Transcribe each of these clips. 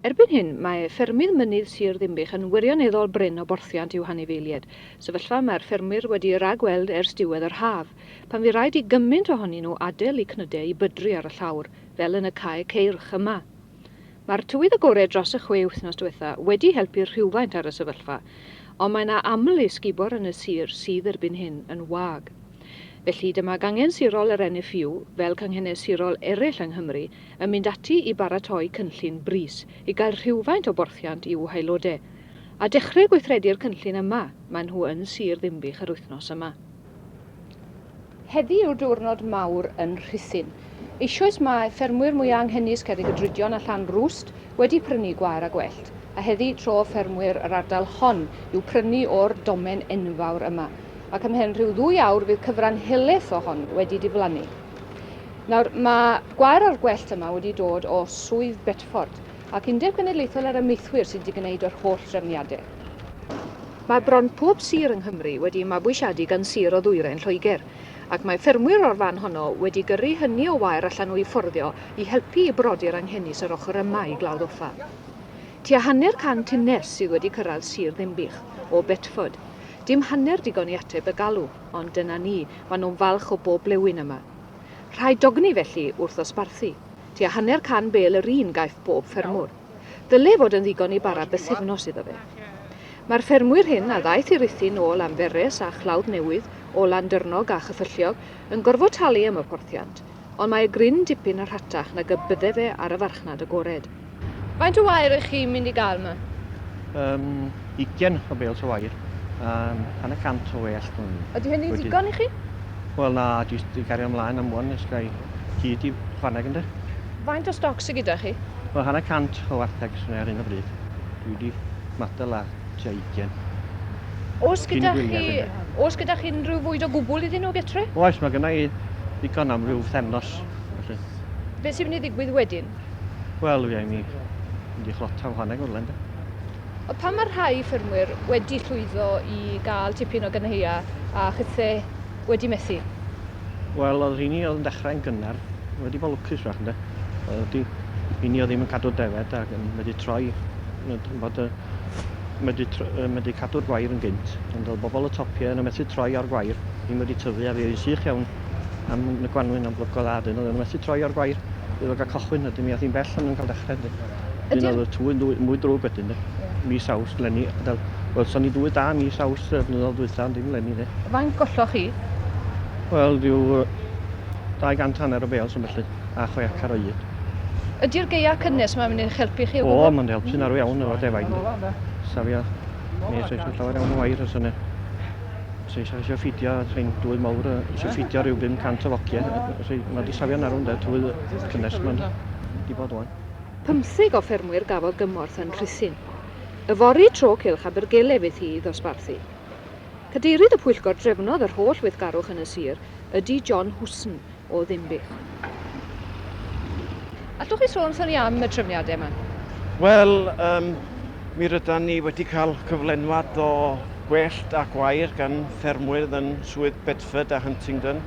Erbyn hyn, mae ffermydd mynydd Sir Ddinbych yn wirioneddol brin o borthiant i'w hanifeilied, sefyllfa y mae'r ffermwyr wedi ei ragweld ers diwedd yr haf, pan fu raid i gymaint ohonyn nhw adael eu cnydau i bydru ar y llawr, fel yn y cae ceirch yma. Mae'r tywydd agored dros y chwe wythnos diwetha' wedi helpu rhywfaint ar y sefyllfa, ond mae 'na aml esgubor yn y sir sydd erbyn hyn yn wag. Felly, dyma gangen sirol yr NFU, fel canghenau sirol eraill yng Nghymru, yn mynd ati i baratoi cynllun brys i gael rhywfaint o borthiant i'w haelodau, a dechreu gweithredu'r cynllun yma, maen nhw yn Sir Ddinbych yr wythnos yma. Heddi yw'r diwrnod mawr yn Rhuthun. Eisoes mae ffermwyr mwya anghenus Cerrig y Drudion a Llan Rwst wedi prynu gwair a gwellt, a heddi tro ffermwyr yr ardal hon yw prynu o'r domen enfawr yma, ac ymhen rhyw ddwy awr fydd cyfran helaeth o hon wedi diflannu. Nawr, mae gwair o'r gwellt yma wedi dod o Swydd Bedford ac Undeb Genedlaethol yr Amaethwyr sydd wedi gwneud yr holl drefniadau. Mae bron pob sir yng Nghymru wedi'i mabwysiadu gan sir o ddwyrain Lloegr, ac mae ffermwyr o'r fan honno wedi gyrru hynny o wair allan o'u fforddio i helpu i brodi'r anghenus yr ochr yma i Glawdd Offa. Tua hanner can tunnell sydd wedi cyrraedd sir Ddinbych o Bedford. Dim hanner digon i ateb y galw. Ond dyna ni, maen nhw'n falch o bob blewyn yma. Rhaid dogni felly wrth ddosbarthu. Tua hanner can bêl yr un gaiff bob ffermwr. Ddyle fod yn ddigon i bara bythefnos iddo fe. Mae'r ffermwyr hyn a ddaeth i Ruthun o Lanberes a Chlawdd Newydd, o Landyrnog a Chyffylliog, yn gorfod talu am y porthiant, Ond mae y gryn dipyn yn rhatach nag y bydde fe ar y farchnad agored. Faint o wair ych chi'n mynd i gael 'ma? Yym, ugen o bêls o wair, a hanner cant o wellt mewn un. Ydy hynny'n ddigon i chi? Wel na, jyst i gario mlaen am wn os gai hyd i chwaneg ynde. Faint o stoc sy gyda chi? Wel, hanner cant o warthegs ar hyn o bryd. Dwi 'di matal a tua 20. Oes gyda chi, oes gyda chi unrhyw fwyd o gwbl iddyn nhw getre? Oes, mae gyda i ddigon am rhyw thefnos. Felly. Beth sy'n mynd i ddigwydd wedyn? Wel, fi ni mynd i chlota whaneg o'r lenda. O pan mae rhai ffermwyr wedi llwyddo i gael tipyn o gynheia a chythe wedi methu? Wel, oedd rhini oedd yn dechrau'n gynnar, wedi bod lwcus fach, ynde? Oedd wedi, rhini oedd ddim yn cadw defed ac yn wedi troi, yn bod y, wedi, wedi cadw'r gwair yn gynt, ond oedd bobl y topiau yn y methu troi o'r gwair, ddim wedi tyfu, a fi oedd sych iawn am y gwanwyn am blygodd a dyn, oedd yn methu troi o'r gwair, oedd wedi cael cochwyn, ydym mi oedd hi'n bell ond yn cael dechrau, ydym. Ydy'r... Dyna oedd y twy'n dwy, mwy drwg wedyn, de. Yeah. Mis Awst, lenni. Wel, welson ni dwy da mis Awst y blynyddoedd dwytha, ond dim lenni, de. Faint golloch chi? Wel, rhyw 200 hanner o bales yn felly, a chwe acar o un. Ydy'r geia cynnes mae'n mynd i'ch helpu chi o gwbl? O, mae'n helpu'n arw iawn efo defaid. Safio, nes oes llawer iawn o wair os yna. Os eisiau eisiau ffidio, rhain dwy mawr eisiau ffidio rhyw 500 o fogiau. Mae wedi safio'n arw yn dweud twy cynnes mae'n di bod o'n. Pymtheg o ffermwyr gafodd gymorth yn Rhuthun. Yfory tro cylch Abergele fydd hi i ddosbarthu. Cadeirydd y pwyllgor drefnodd yr holl weithgarwch yn y sir ydy John Husn o Ddinbych. Allwch chi sôn wrthon ni am y trefniadau yma? Wel, um, mi rydan ni wedi cael cyflenwad o gwellt a gwair gan ffermwyr yn Swydd Bedford a Huntingdon,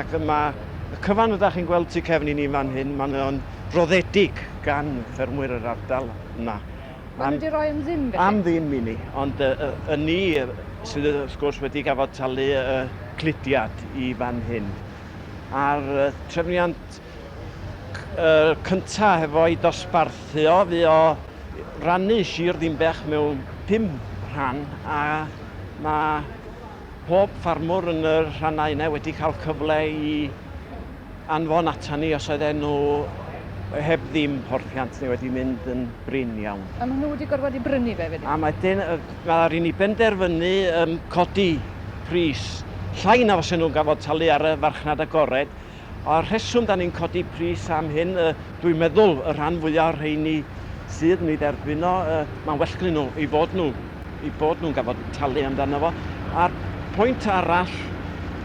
ac mae y cyfan ydych chi'n gweld tu cefn i ni fan hyn, mae'n roddedig gan ffermwyr yr ardal yma. Maen nhw wedi rhoi am ddim felly? Am ddim i ni, ond y, y, y ni sydd wrth gwrs wedi gafod talu y cludiad i fan hyn. A'r trefniant uh, cynta hefo i dosbarthu o fu o rannu sir ddimbech mewn pum rhan a mae pob ffarmwr yn y rhannau yna wedi cael cyfle i anfon atan ni os oedden nhw heb ddim porthiant neu wedi mynd yn brin iawn. A maen nhw wedi gorfod wedi brynu fe wedyn? A wedyn mae rhaid ni benderfynu um, codi pris llai na os nhw'n gafodd talu ar y farchnad agored. A'r rheswm da ni'n codi pris am hyn, y Dwi'n meddwl y rhan fwya o'r rheini sydd yn ei dderbyn o, yy, mae'n well gynnyn nhw ei fod nhw, ei bod nhw'n gafod talu amdano fo. A'r pwynt arall,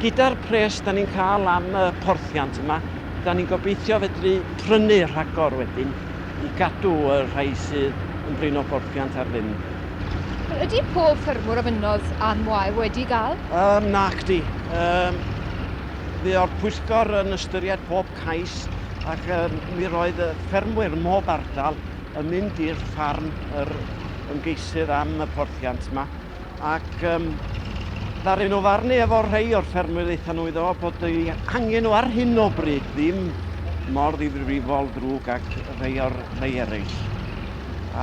gyda'r pres da ni'n cael am y porthiant yma, da ni'n gobeithio fedru prynu rhagor wedyn i gadw y rhai sydd yn brin o borthiant ar ddim. Wel, ydy pob ffermwr a fynnodd Ann Moir wedi gael? Yym, nacdi. Yym, fuodd pwyllgor yn ystyried pob cais ac yym mi roedd y ffermwyr mob ardal yn mynd i'r ffarm yr ymgeisydd am y porthiant yma ac um, ddaru nhw farnu efo rhai o'r ffermwyr eitha nhw iddo bod ei angen nhw ar hyn o bryd ddim mor ddifrifol ddrwg ac rhai o'r rhai eraill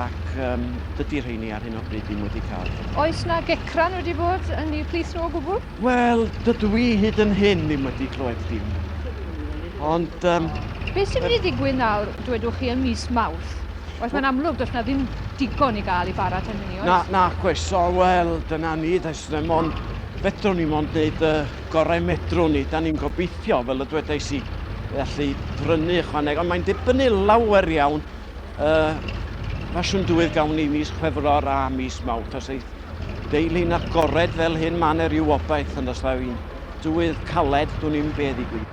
ac um, dydy rheini ar hyn o bryd ddim wedi cael. Oes na gecran wedi bod yn eu plith nhw o gwbl? Wel, dydw i hyd yn hyn ddim wedi clywed dim. Ond... Um, Beth sy'n mynd i ddigwydd nawr, dwedwch chi, yn mis Mawrth? Oes mae'n amlwg, does na ddim digon i gael i bara tan hynny, oes? Na, na, oes, o, wel, dyna ni, does na mond, fedrwn ni mond wneud y gorau medrwn ni. Da ni'n gobeithio, fel y dwedais i, allu prynu ychwaneg, ond mae'n dibynnu lawer iawn Y ffasiwn dywydd gawn ni mis Chwefror a mis Mawrth. Os ei deulu'n agored fel hyn, mae yna rhyw obaith yn ystod fi'n dywydd caled, dwi'n ni'n beth i gwyd.